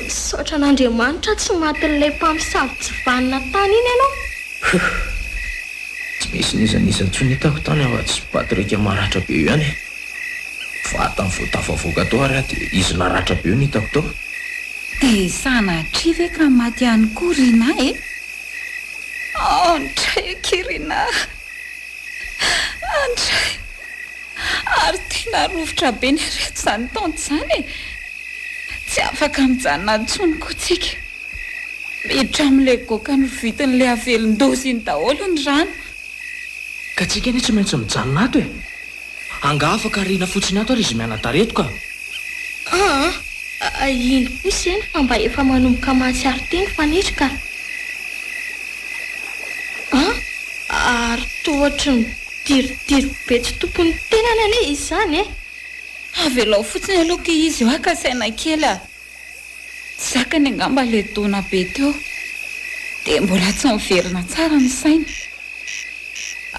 Misaotra an'Andriamanitra tsy matin'ilay mpamosavy tsy vanona tany iny ianao. Huhh! Tsy nisy n'iza n'iza intsony hitako tany afa-tsy Patrick maratra be io ihany e! Vatany vao tafavoaka tao ary aho dia izy naratra be no hitako tao. Dia sanatria ve ka maty ihany koa Rinah e? Andray akia Rinah a! Andray! Ary tena rovitra be ny aretina izany tonta izany e! Tsy afaka mijanona intsony koa tsika. Miditra amin'ilay goaka novidin'ilay havelon-doza iny daholo ny rano. Ka tsika anie tsy maintsy mijanona ato e! Angaha afaka ariana fotsiny ato ary izy mianadahy reto ka! Aa! iny kosa eny fa mba efa manomboka mahatsiaro teny fanitry ka! Aa! ary toa ohatry ny midiridiry be tsy tompony ny tenany anie izy izany e! Avelao fotsiny aloha ity izy eo haka saina kely a! Tsy zakany angamba ilay taona be teo dia mbola tsy miverina tsara ny sainy.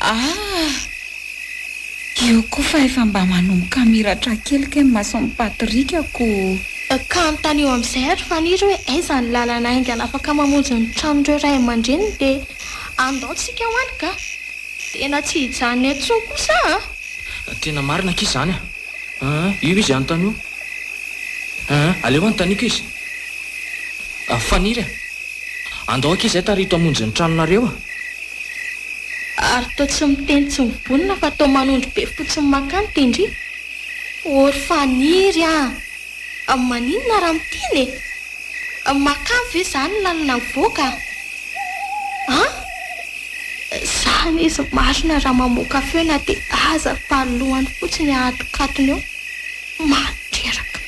Ah! Io koa fa efa mba manomboka miratra kely kay ny mason'i Patrick ko. Kanotanio amin'izay ry Faniry hoe aiza ny lalana haingana afaka mamonjy ny tranon'ireo ray aman-dreniny dia andao tsika ho any kah! Tena tsy hijanona eo intsony kosa aho a! Tena marina akia izany a! Aa io izy anontany io. Aa aleo anontaniako izy. Aa faniry a! Andao akia izay tarihiko hamonjy ny tranonareo a! Ary toa tsy miteny tsy mibonona fa toa manondro be fotsiny makany Tendry. Ô ry Faniry a! Amin'ny maninona ary amin'ny teny e? Amin'ny makavy ve zany ny lalana mivoaka? An? Zany izy marina raha mamoaka feo na dia aza ny palilohany fotsiny ahatonkatony eo. Mandreraka.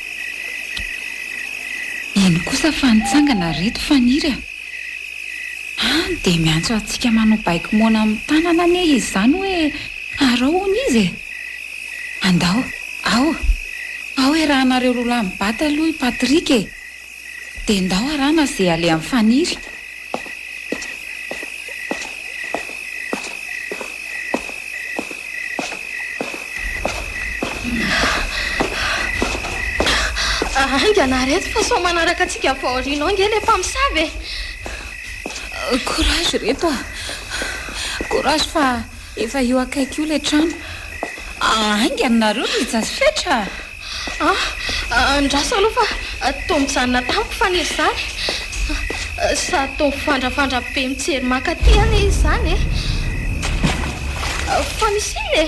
Eny kosa fa nitsangana ry reto Faniry a! An dia miantso antsika manao baiko moana amin'ny tanana anie izy izany hoe arao hono izy e! Andao, ao! Ao e raha anareo roa lahy mibata aloha i Patrick e! Dia ndao arahana ze alehan'i Faniry. Haingana reto fa sao manaraka antsika avy ao aoriana ao nge le mpamosavy e! Courage reto a! Courage fa. Efa io akaiky io ilay trano. Haingana nareo ry Jazz fetra a! Ah, andraso aloha fa toa mijanona tamiko faniriza izany. Sa toa mifandrafandra be mijery mankaty anie izy izany e? Fa misy inona e?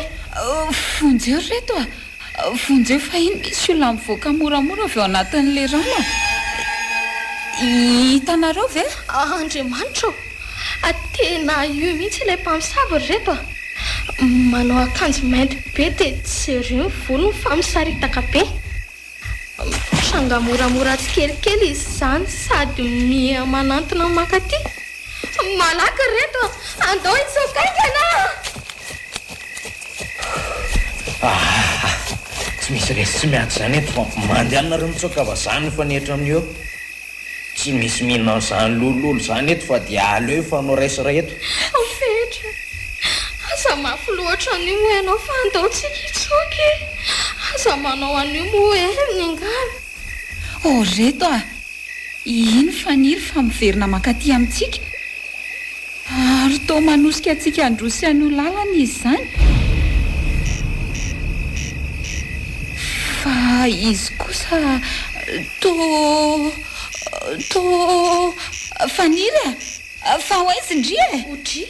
Vonjeo ry reto a! Vonjeo fahiny misy olona mivoaka moramora avy ao anatin'ilay rano. Hitanareo ve? Andriamanitra ô! Tena io mihitsy ilay mpamosavy ry reto a! Manao akanjo mainty be dia jereo ny volony fa misaritaka be. Mitranga moramora tsikelikely izy izany sady miha manantona mankaty. Malaky ry reto a! Andao hitsoaka haingana a! Tsy misy resy tsy miady izany eto fa mandeha nareo mitsoaka vazaha no hifanehitra amin'io eo. Tsy misy mihinana an'izany lololo izany eto fa dia aleo hifanao ray sy ray eto. Fetra, aza mafy loatra an'io moa ianao fa andao tsika hitsoaka e! Aza manao an'io moa e! Miangavy. Oh, ry reto ah! Iny faniry fa miverina mankaty amintsika. Ary toa manosika antsika handroso any ho lalana izy izany. Fa izy kosa toa... toa... faniry ah! Fa ho aiza ndry e? Ho dry?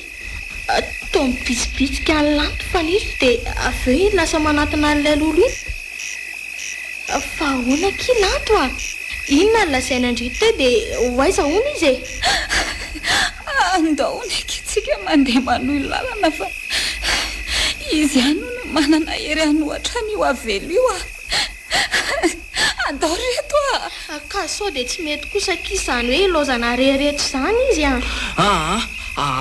Toa mibitsibitsika any lanto faniriky dia avy eo iny lasa manatona an'ilay lolo iny. Fa ahoana akia lanto a? Inona no lazaina ndry teo dia ho aiza hono izy e? Andao neke tsika mandeha manohy lalana fa izy ihany hono manana hery hanohatra an'io avelo io a! Andao ry reto a! Ka sao dia tsy mety kosa akia izany hoe ilaozana reheretra izany izy a! Aa!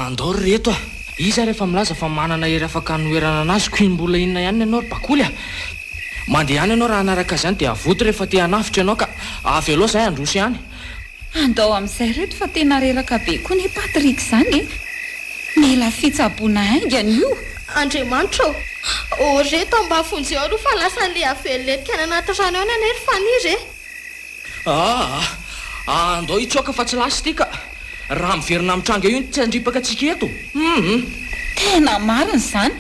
Andao ry reto a! Iza ary efa milaza fa manana hery afaka hanoherana anazy koa mbola inona ihany ny anao ry bakoly a! Mandeha any ianao raha hanaraka izany dia avoty rehefa te hanavotra ianao ka! Avelao izahay handroso ihany. Andao amin'izay reto fa tena reraka be koa ne Patrick zany e! Mila fitsaboana haingana io. Andriamanitra ô! Ô re tambavonjy ao aloha fa lasa le haveloletika any anaty rano any anie ry Fanir e! Aa! Andao hitsoaka fa tsy lasa ity ka! Raha miverina mitranga io ny tsy handripaka antsika eto! Hum! Tena marina izany!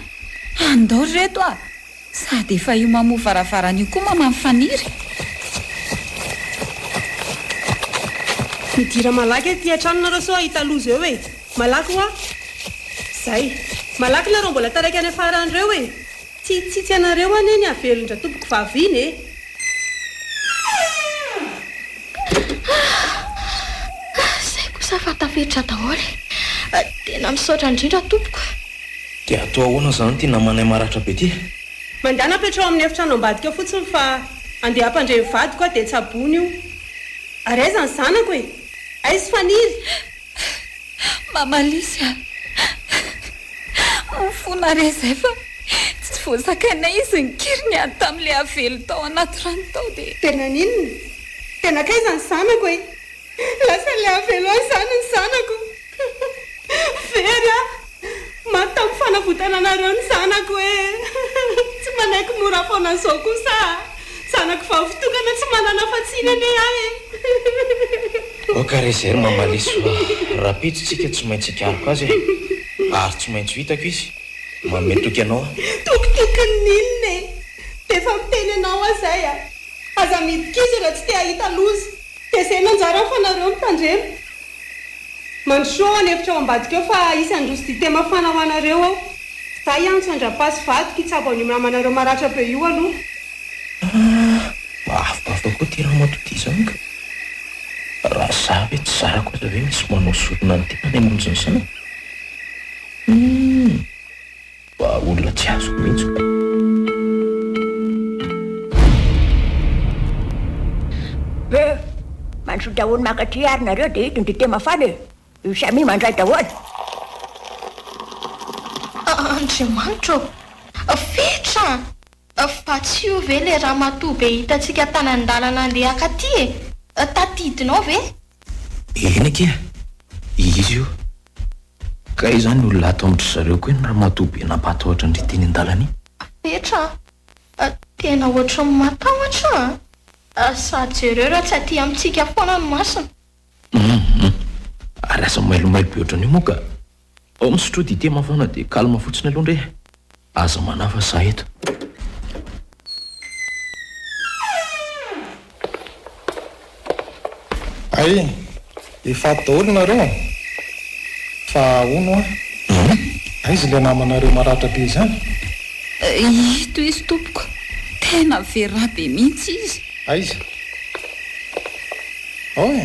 Andao ry reto a! Sady efa io mamoha varavarana io koa maman'i Faniry. Midira malaky aty an-trano nareo sao hahita loza eo e! Malaky hoa! Zay! Malaky nareo mbola taraiky any afara any reo e! Tsy hitsitsy anareo anie ny havelon-dRatompoko vavy iny e! Zay kosa fa tafiditra daholo e! Tena misaotra indrindra tompoko. Dia atao ahoana izany ity namanay maratra be ity? Mandàna toetra ao amin'ny efitrano ambadika fotsiny fa andeha hampandre ny vadiko aho dia tsaboina io. Ary aiza ny zanako e? Aiz Fanily? Mama Lisy a! Mifona re izay fa tsy voazakainay izy nikiry niady tamin'ilay avelo tao anaty rano tao dia. Dia naninona? Dia nankaiza ny zanako e? Lasan'ilay avelo any izany ny zanako! Very a! Mataoko fanavotana anareo ny zanako e! Tsy manaiky mora foana zao kosa a! Zanako vavy tokana tsy manana afa-tsiny anie ahy e! Oka re zay ry Mamaliso fa rapeto tsika tsy maintsy hikariko azy e! Ary tsy maintsy ho hitako izy! Manome toky anao aho! Toky tokiny n'inona e! D'efa miteny anao aho zay a! Aza midik'izina tsy te hahita loza! Dia zay no anjarany fa nareo mitandrema. Mandrosoa ao an'efitra ao ambadika ao fa hisy handroso dite mafana ho anareo ao. Zay hiantso an-dRapa sy vadiko hitsabo an'io namanareo maratra be io aloha. Mba avobavoka koa ity ramatoa ity izany ka! Raha za ve tsy zarako aza ve misy manao sorona ny tenany hamonjy ny zanany? Humm. Fa olona tsy azoko mihitsy koa. Peuh! Mantsy daholo mankatria ary nareo dia ito ny dite mafana e! Io Samy mandray daholo. Andriamanitra ô! Fetra! Fa tsy io ve le ramatoa be hitantsika tany an-dalana andeha akaty e? Tadidinao ve? Eny akia, izy io. Kay izany olona ato amin-dry zareo koa iny ramatoa be nampahatahotra an-dry teny an-dalana iny. Petra a! tena ohatran'ny matahotra a! sady jereo raha tsy aty amintsika foana ny masony. Hum hum, ary asa mailomailo be ohatran'io moa ka Ao misotro dite mafana dia calme fotsiny aloha ndry e! Aza manahy fa za eto. Hay efa ato daholo nareo a! Fa hono hoa? Aiza ilay namanareo maratra be izany? Ito izy tompoko, tena very rà be mihitsy izy. Aiza? Ao e!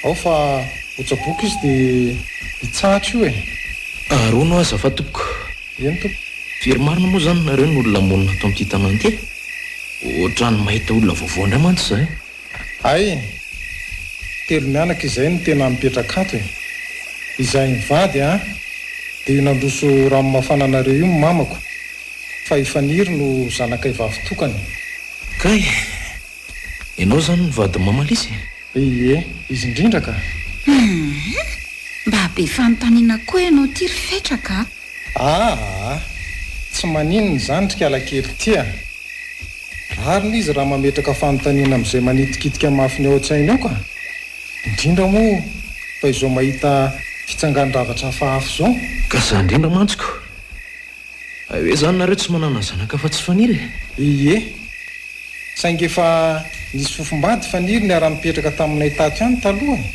ao fa otsaboka izy de hitsahatra io e! Aharoano aza fa tompoko. Eny tompoko. Firy marina moa zany nareo no olona monina ato amin'ity tanàna ity e? Otrany mahita olona vaovao ndray mantsy za e! Hay e! Telo mianaka izay no tena mipetraka ato e! Izahay mivady an! Dia io nandroso rano mafana anareo io ny mamako fa i Faniry no zanakay vavy tokana e! Kay! Ianao izany no vadin'i Mama Lisy e? Ie, izy indrindra ka! Hum! Mba be fanontaniana koa ianao ity ry Fetraka a! Aa! Tsy maninona izany ry kalakely ity a! Rariny izy raha mametraka fanontaniana amin'izay manitikitika mafy ny ao an-tsainy ao ka! Indrindra moa fa izao mahita fitsangan-javatra hafahafa izao! Ka izany indrindra mantsy ko! Hay hoe izany nareo tsy manana zanaka afa-tsy Faniry e! Ie. Saingy efa nisy fofombady Faniry niara-nipetraka taminay tato ihany taloha e!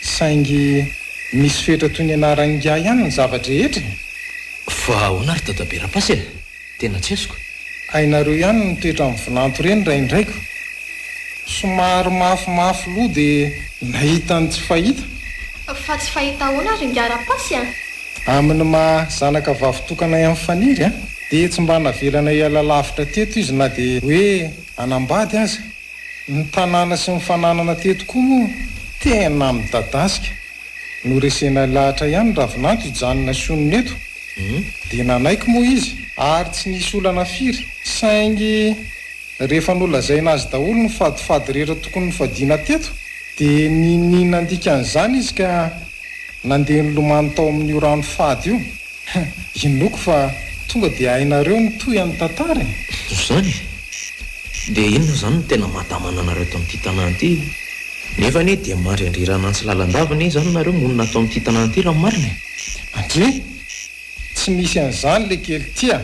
Saingy misy fetra toy ny anaran'ingahy ihany ny zava-drehetra e! Fa ahoana ry Dadabe Rapasy e! Tena tsy azoko. Hainareo ihany ny toetran'ny vinanto ireny raindraiko. Somary mafimafy loha dia nahita ny tsy fahita. Fa tsy fahita ahoana ry ingahy Rapasy a! Amin' ny maha zanaka vavy tokana ahy an' Faniry an, dia tsy mba navelana hiala lavitra teto izy na dia hoe hanambady aza. Ny tanàna sy ny fananana teto koa moa tena midadasika. Noresena lahatra ihany Ravinanto hijanona sionona eto, dia nanaiky moa izy ary tsy nisy olana firy, saingy rehefa nolazaina azy daholo ny fadifady rehetra tokony nofadiana teto dia niniana handika an' izany izy ka. Nandeha nilomano tao amin'io rano fady io. Inoako fa tonga dia hainareo ny tohy an'ny tantara e! Ho izany? Dia inona izany no tena mahatamana anareo tao amin'ity tanàna ity? Nefa anie dia mandry andriranany sy lalandava anie izany nareo monina tao amin'ity tanàna ity raha ny marina e! Andria! Tsy misy an'izany le kely tia!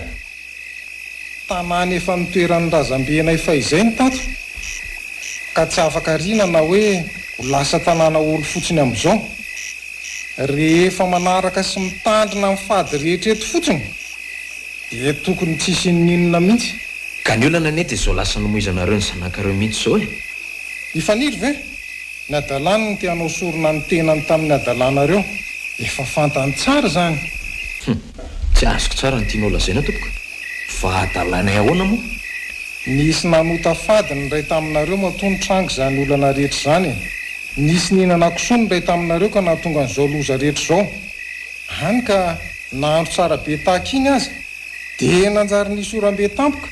Tanàna efa nitoeran'ny razambenay fahizay ny tato, ka tsy afaka ariana na hoe ho lasa tanàna ory fotsiny amin'izao. Rehefa manaraka sy mitandrina ny fady rehetra eto fotsiny, dia tokony tsy hisian'inona mihitsy. Ka ny olana anie dia izao lasa nomoizanareo ny zanakareo mihitsy izao e! I Faniry ve? Ny hadalany no te-hanao sorona ny tenany tamin'ny hadalanareo. Efa fantany tsara izany. Humm! Tsy azoko tsara ny tianao lazaina tompoko. Fa adalainay ahoana moa? Nisy nanota fady ny iray taminareo matoa nitranga izany olana rehetra izany e! Nisy nihinana kisoa ny iray taminareo ka nahatonga an'izao loza rehetra izao. Hany ka nahandro tsara be tahaka iny aza dia nanjary nisy oram-be tampoka.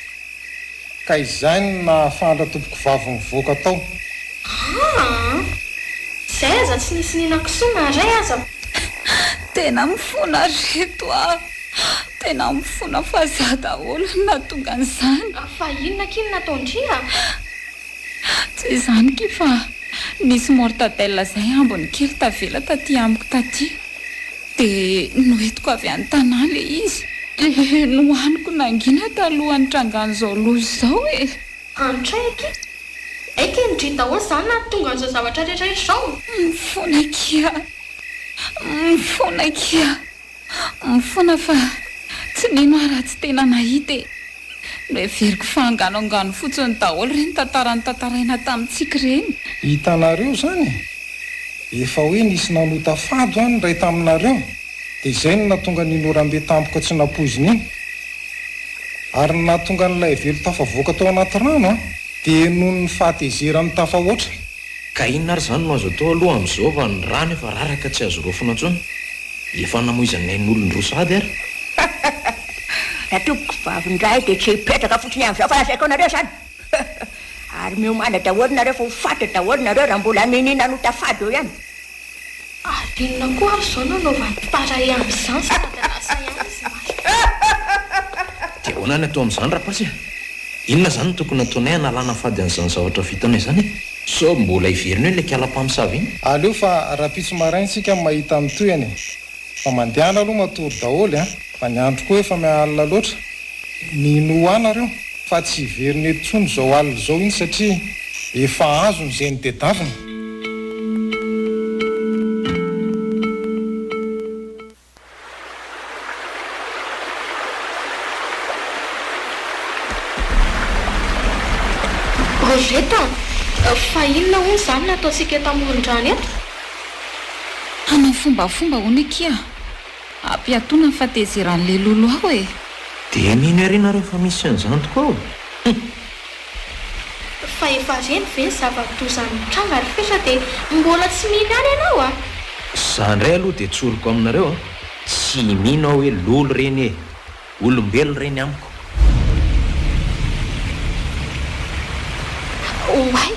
Ka izay no nahafahan'ra tompokovavy nivoaka tao. Aa! Izay aza tsy nisy nina kisoa na iray aza. Tena mifona reto a! Tena mifona fa za daholo no nahatonga an'izany. Fa inona akia no nataon-dry a? Tsy izany ki fa nisy mortadelle izay ambiny kely tavela taty amiko taty dia noentiko avy any Tana ilay izy dia nohaniko nangina taloha nitrangan'izao loza izao e! Antray akia! Hay kay ndry daholo izany nahatonga an'izao zavatra rehetra rehetra izao! Mifona akia! Mifona akia! Mifona fa tsy mino aho raha tsy tena nahita e! Noheveriko fa anganoangano fotsiny daholo ireny tantara notantaraina tamintsika ireny. Hitanareo izany e! Efa hoe nisy nanota fady ho'a ny iray taminareo dia izay no nahatonga an'iny orambe tampoka tsy nampoizina iny. Ary ny nahatonga an'ilay velon-tafavoaka tao anaty rano dia noho ny fahatezerany tafahoatra. Ka inona ary izany no azo atao aloha amin'izao fa ny rano efa rara ka tsy azo raofina intsony? Efa namoizan'ny ain'olon roa sahady ary. Raha tompoko vavin-draha dia tsy hipetraka fotsiny amin'izao fa lazaiko anareo izany. Ary miomana daholo nareo fa ho faty daholo nareo raha mbola niniana hanota fady eo ihany. Ady inona koa ary izao no anaovan'ny mpitaray amin'izany sy Madagascar ihany izy maty. Dia ahoana ny atao amin'izany Rapace e? Inona izany no tokony hataonay hanalana fady an'izany zavatra vitanay izany e? Sao mbola hiverina eo ilay kala mpamosavy iny? Aleo fa rahampitso marain-tsika mahita ny tohiny e! Fa mandehana aloha matory daholo a! Fa ny andro koa efa alina loatra. Minoa nareo fa tsy hiverina eto intsony izao alina izao iny satria efa azony izay nitedavina. Rosette a! Fa inona hono izany no ataontsika eto amoron-drano eto? Hanao fombafomba hono akia. Ampiatoana ny fatezeran'i Lelolo ao e! Dia mino ery nareo fa misy an'izany tokoa ao? Hum! Fa efa reny ve ny zava-doza nitranga ry Fetra dia mbola tsy mino ihany ianao a! Za indray aloha dia tsoriko aminareo a! Tsy mino aho hoe Lolo ireny e! Olombelo ireny amiko. Oay!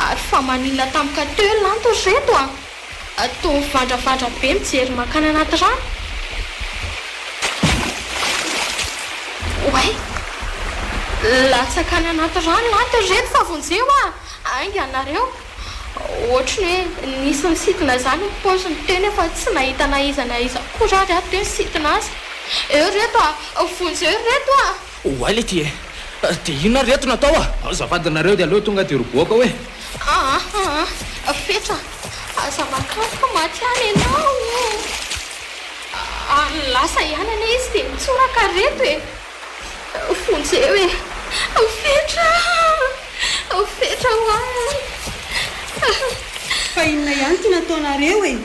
Ary fa maninona tampoka teo ry lanto ry reto a! Toa mivandravandra be mijery mankany anaty rano. Oay! Latsaka any anaty rano lanto ry reto fa vonjeo a! Ainga nareo! Ohatry ny hoe nisy nisintona izany ny paoziny teo nefa tsy nahita na iza na iza akory ary aho teo nisintona azy. Eo ry reto a! Vonjeo ry reto a! Oay le ty e! Dia inona ry reto no atao a! Azafady nareo dia aleo tonga dia roboaka hoe! Aa aa! Fetra! Aza mankany fa maty any ianao o! Ary lasa ihany anie izy dia mitsoraka ry reto e! Vonjeo e! Ao fetra! Ao fetra ho ahy! Fa inona ihany ity nataonareo e?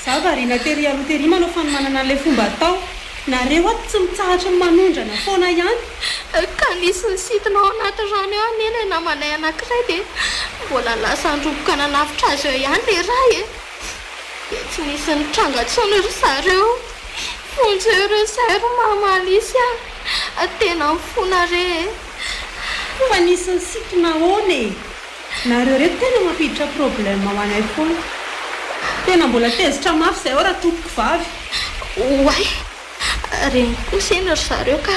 Za variana tery aloha tery manao fanomanana an'ilay fomba atao. Nareo ato tsy mitsahatry ny manondrana foana ihany. Ka nisy nisintona ao anaty rano eo anie ilay namanay anankiray dia mbola lasa niroboka nanavotra azy eo ihany ilay iray e! Tsy nisy nitranga intsony ry zareo. Vonjeo re izay ry Mama Alice a! Tena mifona re e! Fa nisy nisintona ahoana e? Nareo re tena mampiditra problème ho anay foana. Tena mbola tezitra mafy izay ao ratompoko vavy. Oay! Reniko kosa eny ry zareo ka!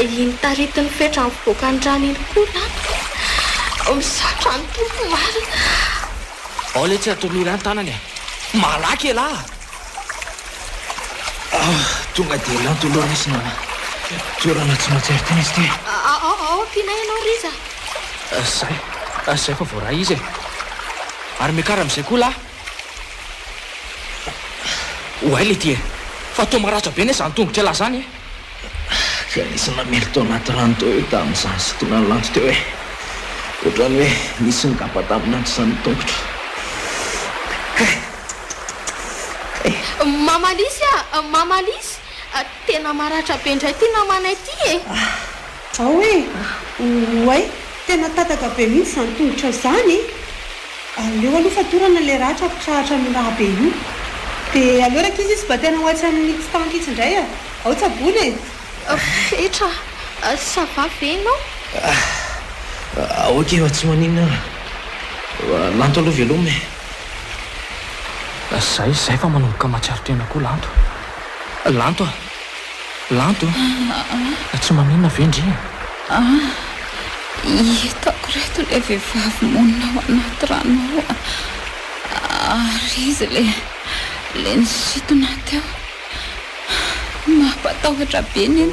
Iny taritin'ny fetra mivoaka ny rano iny koa laniko. Misaotra an'i Tompo marina. Ao letsy a Tommy Rano tanana e! Malaky elah! Ah, tonga dia lanto aloha Riz nana toerana tsy maintsy artin izy ity. Ao, ao, ao ampianay ianao Riz a! Zay, zay fa voaray izy e! Ary miakara amin'izay koa lah! Oay le ty e! Fa toa maratra be ne zany tongotra elah zany e! Dia nisy namely tao anaty rano teo eo tamin'izany sintonan'ny landy teo e! Ohatran'ny hoe nisy nigaba tamin'ny androzan'ny tongotro. Kay! Kay! Mama Lisy a! Mama Lisy! Tena maratra be indray ity namanay ity e! Ao e! Oay! Tena tataka be mihitsy izany tongotrao izany e! Aleo aloha fatorana ilay ratra ampitsahatra amin'io rà be io. Dia aleo rakizy izy mba tena ho atsy amin'ny tsitanty itsy indray a! Ao tsaboina e! Fetra, ça va ve ianao? Ah! Ok fa tsy maninona aho. Lanto aloha veloma e! Izay, izay fa manomboka mahatsiaro tena koa Lanto. Lanto a! Lanto a! Tsy maninona ve ndry e? Ah! Hitako ireto ilay vehivavy monina ao anaty rano ao a! Ary izy ilay, ilay nisintona teo. Mampatahotra be ny.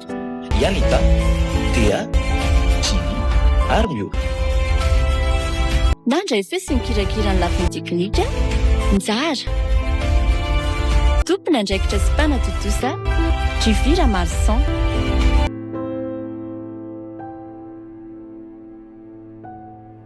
i Anita, Dea, Jimmy ary Miora. Nandray feo sy nikirakira ny lafiny teknika, Njara. Tompon'andraikitra sy mpanatontosa, Jufy Ramarison.